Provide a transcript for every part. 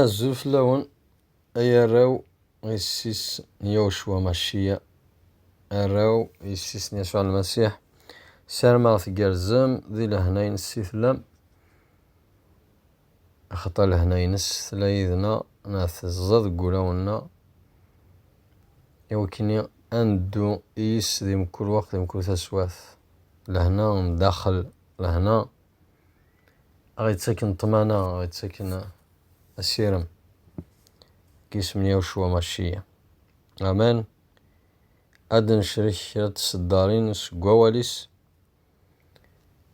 Azul fell-awen ay arraw n yessi-s n Yawecwa Macciya, arraw n yessi-s n Yasuɛ Lmasiḥ. Ssarameɣ tgerrzem di lehna-nnes i tellam, axaṭer lehna-nnes tella yid-neɣ neɣ teẓẓa deg wulawen-nneɣ, iwakken-nni ad neddu i yis-s di mkul weqt, di mkul taswiɛt. Lehna n daxel, lehna. aɣ-ittaken ṭṭmana, aɣ-ittaken asirem deg yisem n Yawcua Macciya. Amen. Ad d-necrek kra n tseddarin seg wawal-is,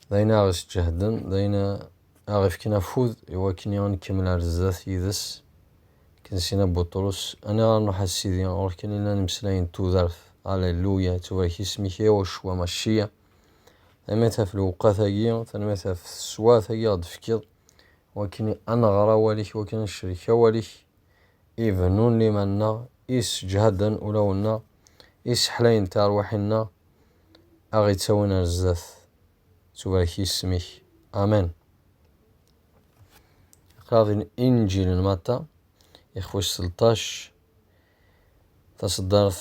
d ayen ara aɣ-isǧehden, d ayen ara aɣ-ifken afud i wakken i nkemmel ar zdat yid-s. Akken Sina Buṭrus, aniɣer ad nruḥ a Sidi, ɣur-k kan i llan imeslayen n tudert. Aleluya, ittubarek yisem-ik a Yawcua Macciya. Tanemmirt ɣef lewqat-agi, tanemmirt ɣef teswart-agi ɣ d-tefkiḍ, wakken ad nɣer awal-ik, wakken ad necrek awal-ik, ibennun liman-nneɣ, isseǧhaden ulawen-nneɣ, isseḥlayen tarwiḥin-nneɣ, a ɣ-ittawin ar zdat. Tubarek yisem-ik. Amen. Iqraḍ inǧil n Matta, ixf wis selṭac, taṣeddart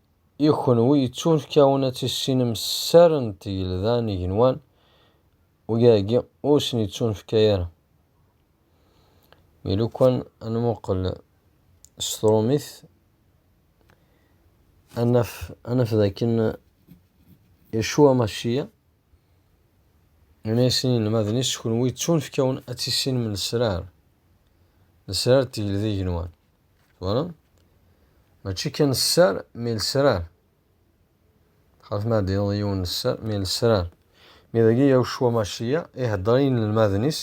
I kenwi yettunefkawen ad tissinem sser n tgelda n igenwan, uyaagi ur sen-yettunefka ara. Mi lukan ad nmuqel s trumit, ad naf, ad naf d akken Yacua Maciya yenna-yasen i yinelmaden-is, Kenwi yettunefkawen ad tissinem lesrar, lesrar n tgelda n igenwan. Twalaḍ? Mačči kan sser, mi lesrar. Xaf ma d-ineḍ yiwen sser, mi lesrar. Mi dagi Yahucua Maciya ihedder i inelmaden-is,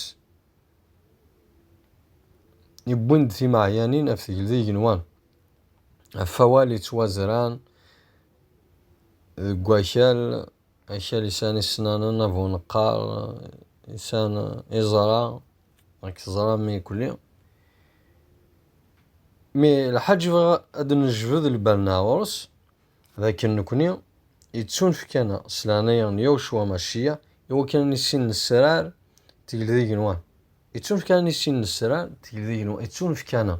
yewwin-d timeɛyanin af tegl d igenwan, af awal yettwazran deg wakal Akal yesɛan isennanen, abuneqqar yesɛan iẓra, ad k-teẓra mi yekli. Mi lḥaǧ bɣiɣ ad d-nejbed lbal-nneɣ ar ɣur-s, d akken nekni yettunefk-aneɣ s leɛnaya n Yawecwa Maciya i wakken ad nissin nesrar tegl d igenwan. Yettunefk-aneɣ ad nissin nesrar tegl d igenwan, yettunefk-aneɣ.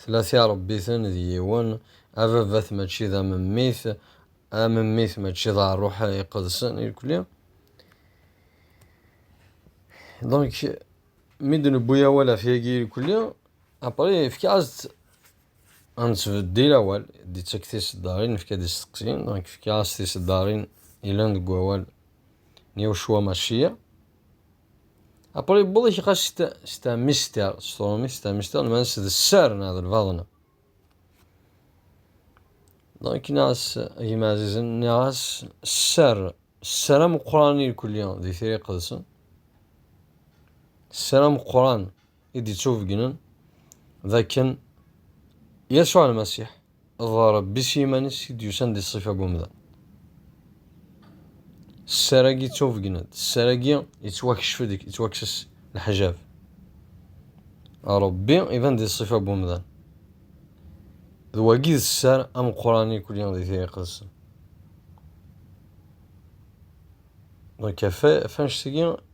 Tella tirebbiten d yiwen, ababat mačči d amemmit, amemmit mačči d ṛṛuḥ iqedsen irkli. Donc, mi d-newwi awal ɣef yagi irkli, après efk-as-d ad nettbeddil awal, d-ittak tiseddaṛin nefka-d isteqsiyen, donc efk-as tiseddaṛin yellan deg wawal n Yahucua Maciya. Après, yewweḍ ikiqa c'est un mystère. S tṛumit, c'est un mystère. Lmans d sser neɣ d lbaḍna. Donc, nniɣ-as, gma Azizen, nniɣ-as sser. Sser ameqqran irkelli di tira iqedsen. Sser ameqqran. i d-ittubegnen d akken Yasuɛ Lmasiḥ d Ṛebbi s yiman-is i d-yusan di ṣṣifa n umdan. Sser-agi ttubegnen-d, sser-agi ittwakcef-d, ittwakkes leḥjab. Ṛebbi iban di ṣṣifa n umdan. D wagi i d sser ameqqran ikli di Tira Iqedsen. Donc, ɣef anect-agi,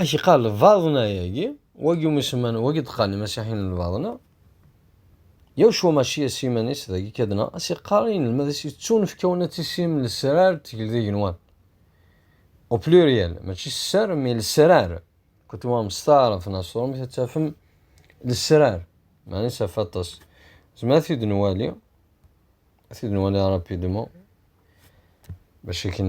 Ak iqal lbaḍna yagi, wagi umi semman, wagi d-qqaren imasiḥiyen n lbaḍna, yaw cwa mačči as iman-is dagi kan dneɣ, as iqqar i inelmad-is yettunefkawen ad tisim lesrar d tegeldigenwan, au pluriel, mačči sser, mais lesrar, quand tu vas en star, en astronomie, ad tafem lesrar, maɛna isaf aṭas. Zemmer ad t-id-nwali, ad t-id-nwali rapidement, bac akken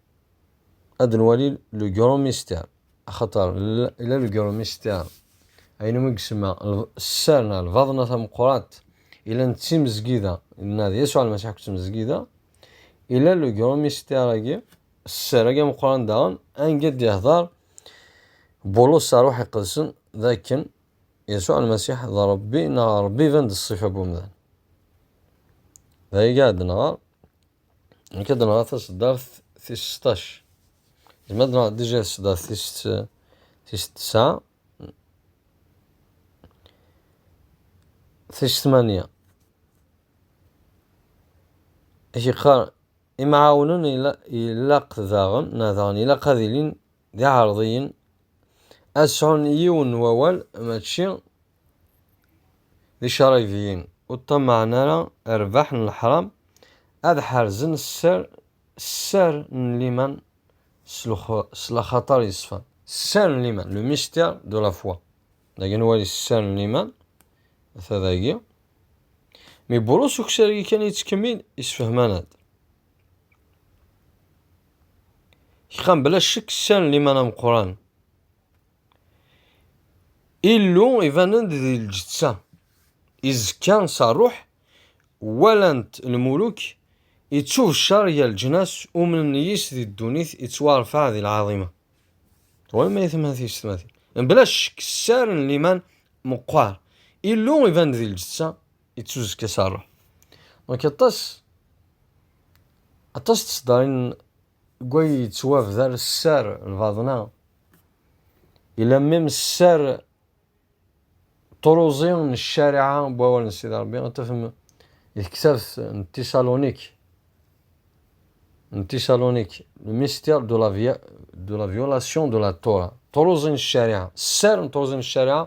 ad nwali le gros mystère axaṭer la le gros mystère ayen umi yesma sser neɣ lbaḍna tameqqrant ila d timezgida neɣ d Yasuɛ Lmasiḥ akked tmezgida ila le gros mystère agi sser agi ameqqran daɣen anga d-yehder Bulus s ṛṛuḥ iqedsen d akken Yasuɛ Lmasiḥ d Ṛebbi neɣ Ṛebbi iban-d ṣṣifa n wemdan. D ay iɛedden ɣer Nekk ad nɣeɣ taseddart tis sṭac. Zmer ad nɣeɣ dija taseddart tis tis tesɛa. Tis tmanya. Ak iqqar imɛawnen ilaq daɣen neɣ daɣen ilaq ad ilin d iɛerḍiyen ad sɛun yiwen n wawal mačči d icaṛaybiyen ur ṭṭamaɛen ara rrbeḥ n leḥṛam, ad ḥerzen sser sser n liman s s laxaṭer yeṣfan. Sser n liman, le mystère de la foi, dagi ad nwali sser n liman, ata dagi, mi Burus Uksari kan yettkemmil yessefhem-aneḍ-d, kqan bla ccek sser n liman ameqqran Illu iban-d di lǧeţţa, izekka s ṛṛuḥ, walan-t lmuluk, iţţubecceṛ gar leǧnas, umnen yis di ddunit, iţwaṛfeɛ di lɛaḍima. Twalem ayetma-tis tmatin? Bla ccekk, sser n liman meqqer. Illu iban-d di lǧeţţa, iţţuzekka s ṛṛuḥ. Donc aṭas, aṭas n tseddaṛin Gui yettwabder sser lbaḍna, yella mim sser ṭruẓi n ccariɛa n wawal n Sidi Ṛebbi, ad tafem di tektabt n Tisalunik, n Tisalunik, le mystère de la, de la violation de la Torah, ṭruẓi n ccariɛa, sser n ṭruẓi n ccariɛa,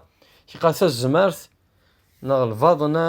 tiqat-a tzemart neɣ lbaḍna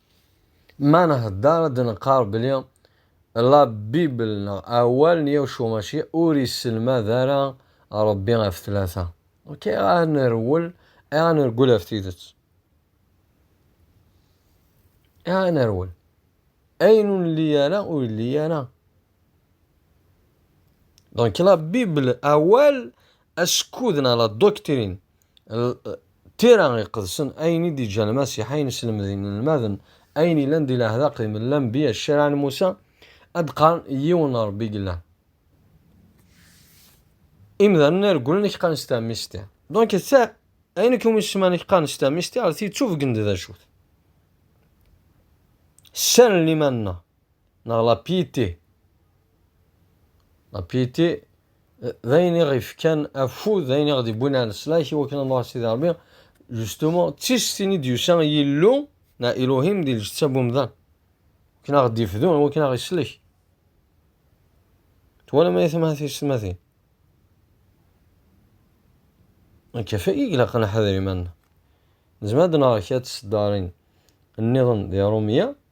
Ma nhedder ad d-neqqar belli La Bible neɣ awal n Yawcu Maci ur isselmad ara Rebbi ɣef tlata. Ok, ayɣer ad nerwel, ayɣer ad nergel ɣef tidet? Ayɣer ad nerwel? Ayen ur nli ara ur yelli ara. Donc la Bible awal askud neɣ la doctrine Tira iqedsen, ayen i d-iǧǧa Lmasiḥ, ayen slemden inelmaden, ayen yellan di leɛdaq i Lanbiya, ccariɛa n Musa, ad d-qqaren yiwen n Rebbi yellan. Imdanen regglen i k-qqaren s tamisti. Donc ta, ayen akk umi semman i k-qqaren s tamisti, ɣer ti d tubgen-d d acu-t. Ssalen liman-nneɣ. neɣ la piété. La piété d ayen i ɣ-ifkan afud, d ayen i ɣ-d-iwwin ar leslak i wakken ad nruḥ Sidi Rebbi. Justement, d tistin i d-yusa Yillu neɣ Elohim di lǧetta n umdan, wakken ad ɣ-d-ifdu, wakken ad ɣ-islek. Twalam ay atma tiyessetmatin? Nekk ɣef wagi i ilaq ad neḥder iman-nneɣ. Nezmer ad d-neɣer kra n tseddarin nniḍen di Rumya,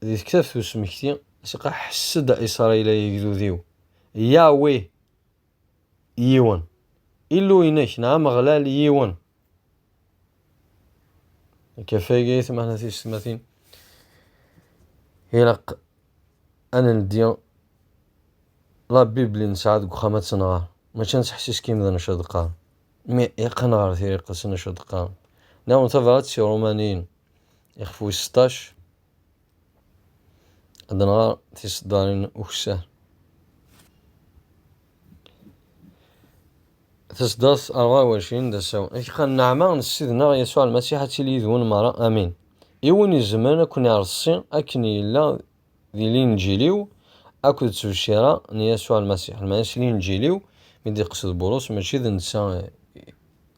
Di tektabt n usmekti, Siqa, ḥess-d a Isṛayil ay agdud-iw, Yahweh yiwen, Illu-inek neɣ Ameɣlal yiwen. Akafag ay atmaten a tiysetmatin, ilaq ad neldi La Bible i nesɛa deg uxxam ad tt-nɣer, mačči ad nettḥessis kan d acu d-qqaren, mais ilaq ad nɣer tiriqet n wacu d-qqaren. Nniɣ-awen tabṛat si Ṛumaniyen. Ixef wis seṭṭac, ad nɣer tiseddarin ukessar. Taseddart rɣa wacin d asaw. Akqa nneɛma n Ssid-nneɣ Yasuɛ Lmasiḥ ad tili yid-wen merra. Amin. I win izemren ad ken-ireṣṣi akken yella di linǧil-iw akked ttbecciṛa n Yasuɛ Lmasiḥ. Lmeɛna s linǧil-iw, mi d-iqsed Bulus, mačči d netta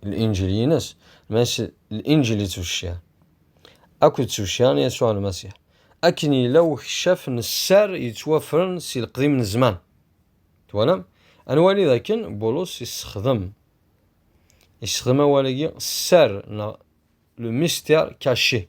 linǧil-ines, lmeɛna s linǧil yettbeccir, akked ttbecciṛa n Yasuɛ Lmasiḥ, akken yella ukeccaf n sser yettwafren si leqdim n zzman. Twalam? Ad nwali d akken Bulus yessexdem yessexdem awal-agi sser neɣ le mystère caché.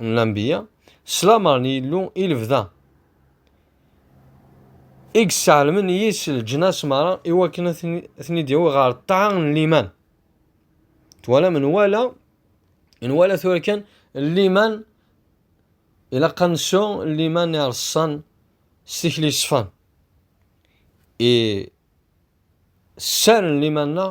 n lanbiya, s lamer n Yillu i lebda, i yesseɛlemen yis leǧnas merra i wakken ad ten-id-yawi ɣer ṭṭaɛa n liman. Twalam, nwala, nwala tura kan liman, ilaq ad nsu liman ireṣṣan s tikli yeṣfan. I sser n liman-nneɣ,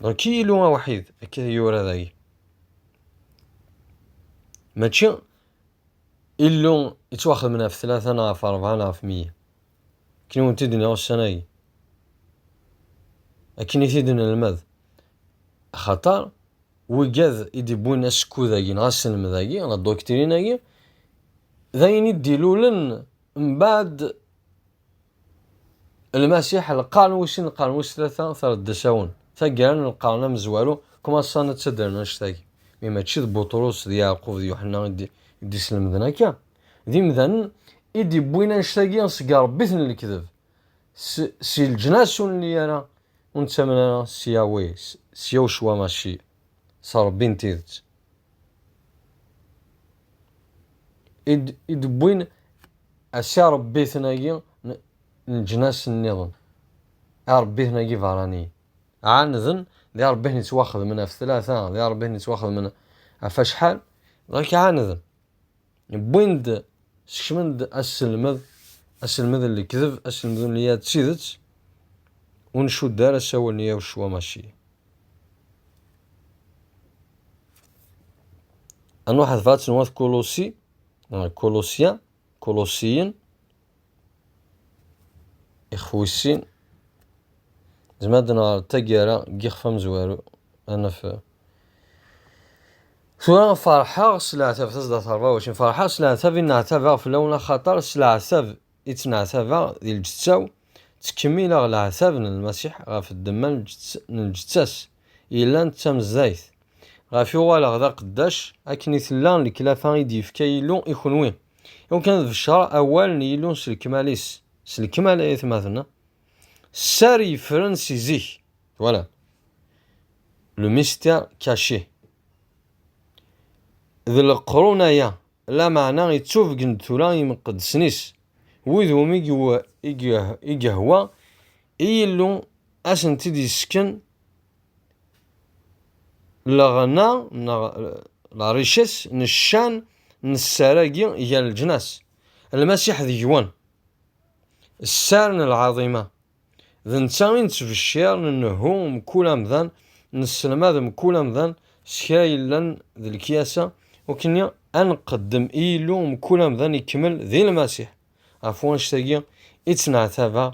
Dɣa Kiyilu awḥid akka i yura dagi. Mačči Illu yettwaxedmen ɣef tlata neɣ ɣef rebɛa neɣ ɣef meyya. Akken i wen-t-id-nniɣ ussan-agi. Akken i t-id-nelmed. Axaṭer wigad i d-iwwin asekkud-agi neɣ aselmed-agi neɣ doctrine-agi, d ayen i d-ilulen mbaɛd Lmasiḥ, lqern wis sin lqern wis tlata treddesawen, taggara n lqern amezwaru, kmaṣa n ttadren annect-agi, mi mačči d Buṭrus d Yeɛqub d Yuḥenna i d-islemden akka, d imdanen i d-iwwin annect-agi seg irebbiten n lekdeb, si leǧnas ur nelli ara, ur nettamen ara s Yahweh, s Yahucwa Macieh. s Ṛebbi n tidet. I d-wwin s iṛebbiten-agi n leǧnas nniḍen, iṛebbiten-agi beṛṛaniyen. Ɛaneden d iṛebbiten yettwaxedmen ɣef tlata, d iṛebbiten yettwaxedmen ɣef acḥal, dɣa akka ɛaneden. wwin-d skecmen-d aselmed aselmed n lekdeb aselmed n ya d tidet ur ncudd ara asawal n Yahucua Maci. Ad nwaḥed ɣef At n Wat Kulusi, Kulosya, Kulusiyen, Ixef wis sin, nezmer ad nɣer d taggara n yixef amezwaru, ad naf Tura ferḥeɣ s leɛtab, tasda terbaweč, ferḥeɣ s leɛtab i nneɛtabeɣ fell-awen axaṭer s leɛtab i ttneɛtabeɣ di lǧeţţa-w, ttkemmileɣ leɛtab n Lmasiḥ ɣef ddemma n lǧeţţa-s yellan d tamezdayt, ɣef i uɣaleɣ d aqeddac, akken i tella leklafa i d-yefka Yillu i kenwi. Iwan kan d beccer awal n Yillu s lekmal-is, s lekmal ay atmaten-a. Sser yeffren si zik, twala. Le mystère caché. D leqrun aya, lameɛna yettubgen-d tura imqeddsen-is, wid umi i yehwa i Yillu ad asent-id-yessken leɣna neɣ lɛric-is n ccan n sser-agi gar leǧnas, Lmasiḥ deg-wen, sser n lɛaḍima, d netta i nettbeccir, nnehhu mkul amdan, nesselmad mkul amdan s kra yellan d lekyasa, nekkni ad nqeddem i Yillu mkul amdan ikemmel di Lmasiḥ. Ɣef wanect-agi i ttneɛtabeɣ,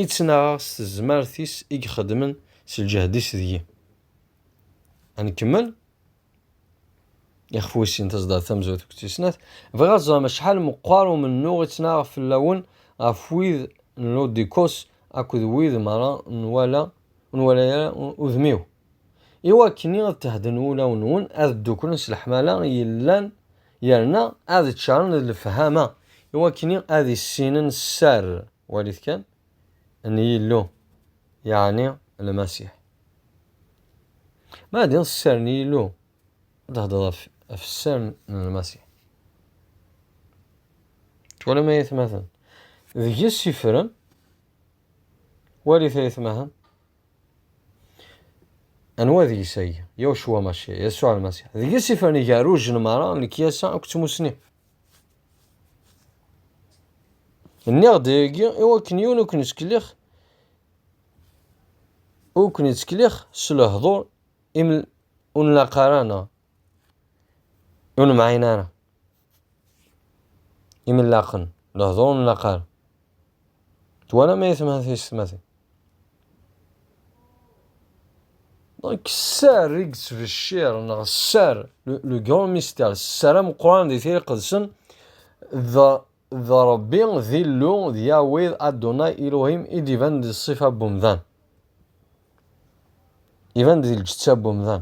i ttnaɣeɣ s tezmert-is i ixeddmen s lǧehd-is deg-i. Ad nkemmel? Ixef wis sin tazeddart tamezwarut akked tis snat, bɣiɣ ad teẓrem acḥal meqqar umennuɣ i ttnaɣeɣ fell-awen ɣef wid n Lodikos akked wid merra n wala ur nwala ara udem-iw. i wakken i ad tehden wulawen-nwen ad dduklen s leḥmala yellan yerna ad ččaren d lefhama i wakken i ad issinen sser, walit kan, n Yillu, yeɛni Lmasiḥ. Ma ad d-tiniḍ sser n Yillu, ad d-thedreḍ ɣef, ɣef sser n Lmasiḥ. Twalam ay atmaten? Deg-s ifren, walit ay atmaten, Anwa deg-s ay? Yawcwa Maci, Yasuɛ Almasiḥ. Deg-s i fren igerruj n mara, lekyasa akked tmusni. Nniɣ-d ayagi i wakken yiwen ur ken-ittkelliɣ ur ken-ittkelliɣ s lehdur ur nlaq ara neɣ ur nemɛin ara. imellaqen, lehdur n laqal. Twala ma yetma tisetmatin. Donc sser i yettbecciṛ neɣ sser le grand mystère sser ameqqran di tira iqedsen d d Ṛebbi d Illu d Yahweh Adonai Elohim i d-iban di ṣṣifa n umdan. Iban di lǧetta n umdan.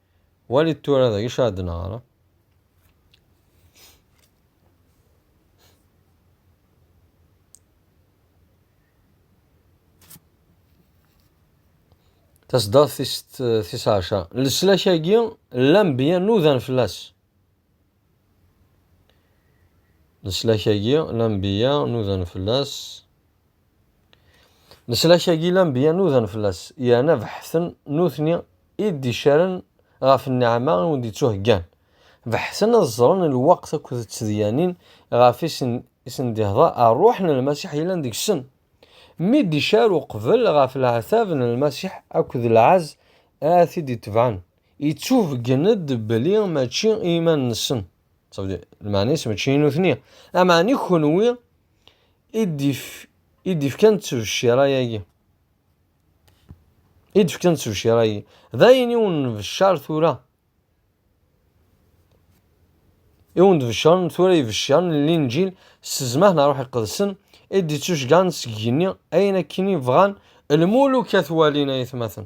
Walit tura d acu ara d-neɣr. Tasdaɣt tis ɛecṛa. Leslak-agi n lanbeyya nudan fell-as. Leslak-agi n lanbeyya nudan fell-as. Leslak-agi lanbeyya nudan fell-as, yerna beḥten nutni i d-icaren ɣef nneɛma i wen-d-ittuheggan. Beḥten ad ẓren lweqt akked tedyanin ɣef i sen-d-ihḍer rruḥ n Lmasiḥ yellan deg-sen. Mi d-icar uqbel ɣef leɛtab n Lmasiḥ akked lɛezz ara t-id-itebɛen, ittuheggen-d belli mačči i yiman-nsen, lmeɛna-is mačči i nutni, am ɛni kenwi i d-ifkan ttebcira-agi. I d-ifkan ttebcira-agi. D ayen i wen-nbeccar tura. I wen-nbeccar tura ibeccar n linǧil s zzmaḥ n ṛṛuḥ iqedsen i d-ittuceggan seg yigenni ayen akken i bɣan lmuluk ad t-walin ayetmaten.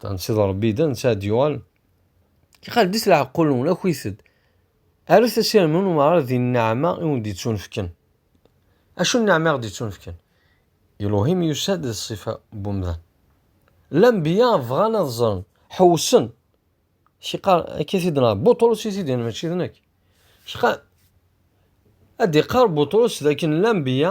Tansiḍ Rebbi d ansa d-yuɣal. Iqaddis leɛqul-nwen, akit-d. Arut asirem n umɣar di nneɛma i wen-d-yettunefken. Acu n nneɛma i ɣ-d-yettunefken? Iluhim yusa-d d ṣṣifa n umdan. Lambiya bɣan ad ẓren, ḥewsen. Kiqar, akka t-id nɣa, Buṭrus i t-id-yenna, mačči d nekk. Kiqar, ad d-iqar Buṭrus d akken lambiya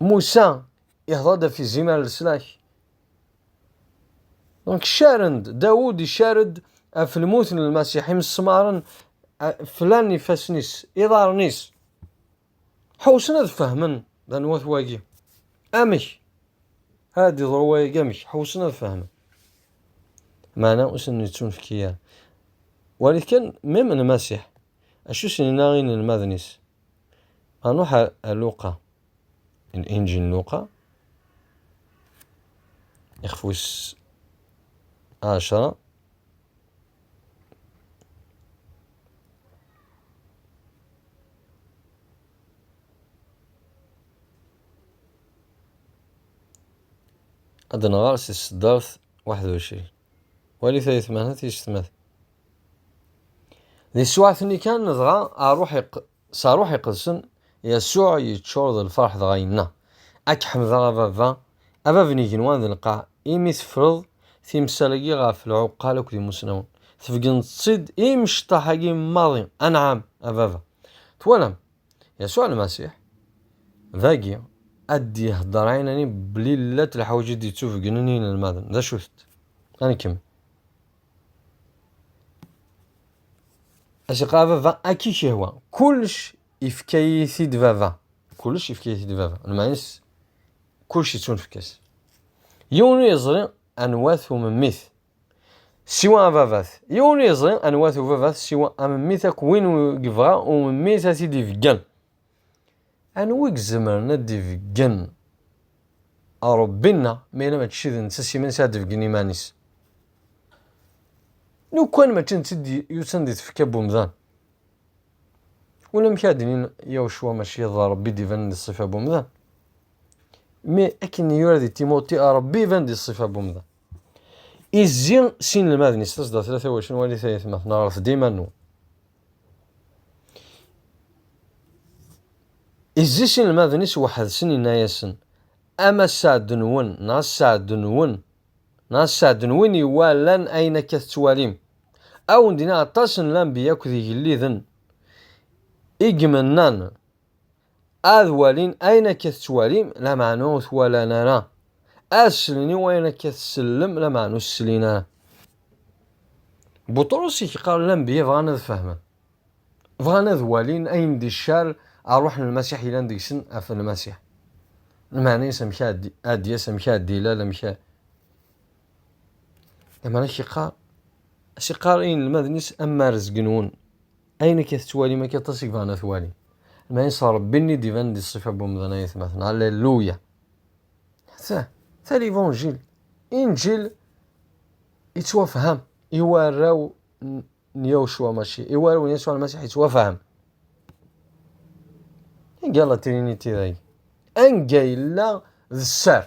Musa ihḍa-d ɣef izimer n leslak. Donc caren-d, Dawud icar-d ɣef lmut n Lmasiḥ, imesmaren flan ifassen-is, iḍarren-is. Ḥewsen ad fehmen d anwa-t wagi. Amek? Ad d-iḍru wagi amek? Ḥewsen ad fehmen. Meɛna ur sen-yettunefk ara. Walit kan, même Lmasiḥ. Acu sen-yenna inelmaden-is? Anuḥ ar Luqa, Linǧil n Luqa, ixef wis ɛecṛa, ad nɣer si tseddart waḥed u ɛecrin, walit ayetma-h tisetma-t. Di ssuɛat-nni kan, dɣa, ṛṛuḥ iq, s Ṛṛuḥ Iqedsen, Yasuɛ yeččur d lfeṛḥ dɣa yenna, A k-ḥemdeɣ, a Baba, a Bab n igenwan d lqaɛ, imi teffreḍ timsal-agi ɣef lɛuqqal akked imusnawen, tbegneḍ-tt-id i imecṭaḥ-agi maḍi, anɛam, a Baba. Twalam? Yasuɛ Lmasiḥ, dagi, ad d-iheddeṛ ɛinani belli llant leḥwayeǧ i d-yettubegnen i yinelmaden. D acu-tent? Ad nkemmel. Acqa baba akka i k-ihwa. Kullec ifka-yi-t-id baba. Kullec ifka-yi-t-id baba. Lmeɛna-s kullec yettunefk-as. Yiwen ur yeẓri anwa-t umemmit. Siwa ababat. Yiwen ur yeẓri anwa-t ubabat siwa amemmit akk win yebɣa umemmit ad t-id-ibeggen. Anwa i izemren ad d-ibeggen Ṛebbi-nneɣ, ma yella mačči d netta s yiman-is ara d-ibeggen iman-is? Lukan mačči d netta i d-yusan di tfekka n umdan, ulamek ara d-inin Yawecwa mačči d Ṛebbi i d-ibanen di ṣṣifa n umdan, mi akken i yura di Timuṭi, Ṛebbi iban di ṣṣifa n umdan. Izzi s inelmaden-is, tasdaṭ-a tawacnwalit ay atmaten, ɣret-d iman-nwen. Izzis inelmaden-is weḥd-sen inna-yasen, Ama sseɛd-nwen neɣ sseɛd-nwen neɣ sseɛd-nwen iwalan ayen akka tettwalim, ad wen-d-iniɣ aṭas n lanbiya akked igelliden i imennan Ad walin ayen akka tettwalim, lameɛna ur t-walan ara. Ad slen i wayen akka tsellem, lameɛna ur s-slin ara. Buṭrus i k-qqaren lanbeyya bɣan ad fehmen, bɣan ad walin ayen d ccar a Ṛuḥ n Lmasiḥ yellan deg-sen ɣef Lmasiḥ. Lmeɛna-yas amek ad d-yas, amek ad d-ilal, amek a. Lameɛna a k-iqqar, a s-iqqar i yinelmaden-is am ma rezgen-wen. Ayen akka tettwalim akka aṭas i bɣan ad t-walin. Lmaɛin s Ṛebbi-nni i d-iban di ṣṣifa n wemdan ayetmaten. Alleluya! Ta, ta livanjil. Injil yettwafham i warraw n Yawcwa mačči, i warraw n Yasuɛ Lmasiḥ yettwafham. Iga la triniti dagi. Anga yella d sser.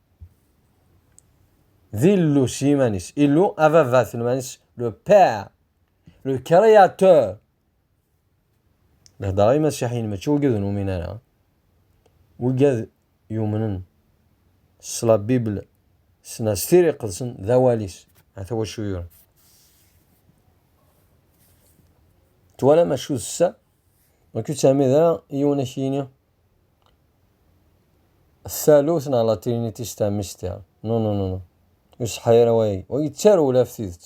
D Illu s yiman-is. Illu, ababa s yiman-is, le père, le créateur. Lehder ay masiḥiyen mačči ugad ur numin ara. Ugad yumnen s la Bible, s la s tiri qedsen, d awal-is. Ata wacu yuran. Twala macu d ssa, ur k-id-termid ara yiwen ak-yini. Talut neɣ la trinitis tamesti. Non, non, non. Ur iṣeḥḥa ara wayagi. Ur yettaru ula ɣef tidet.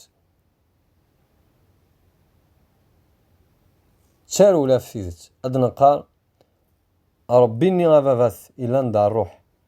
Ttaru ula ɣef tidet. Ad d-neqqar Ṛebbi-nni ababat yellan d ṛṛuḥ.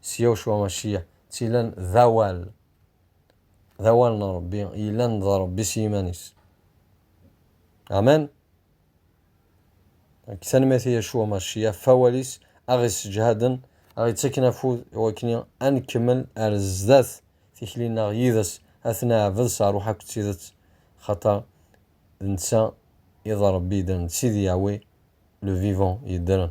s yaw cwa acciyeɛ d tila n d awal d awal n Ṛebbi yellan d Ṛebbi s yiman-is. Amen! Nekk tanemmirt i Yacwa Macciyeɛ ɣef wawal-is aɣ-isseǧhaden, aɣ-ittaken afud i wakken ad nkemmel ar zdat tikli-nneɣ yid-s, ad t-neɛbed s ṛṛuḥ akked tidet, axaṭer d netta i d Ṛebbi yeddren, d Sidi Yahweh le vivant yeddren.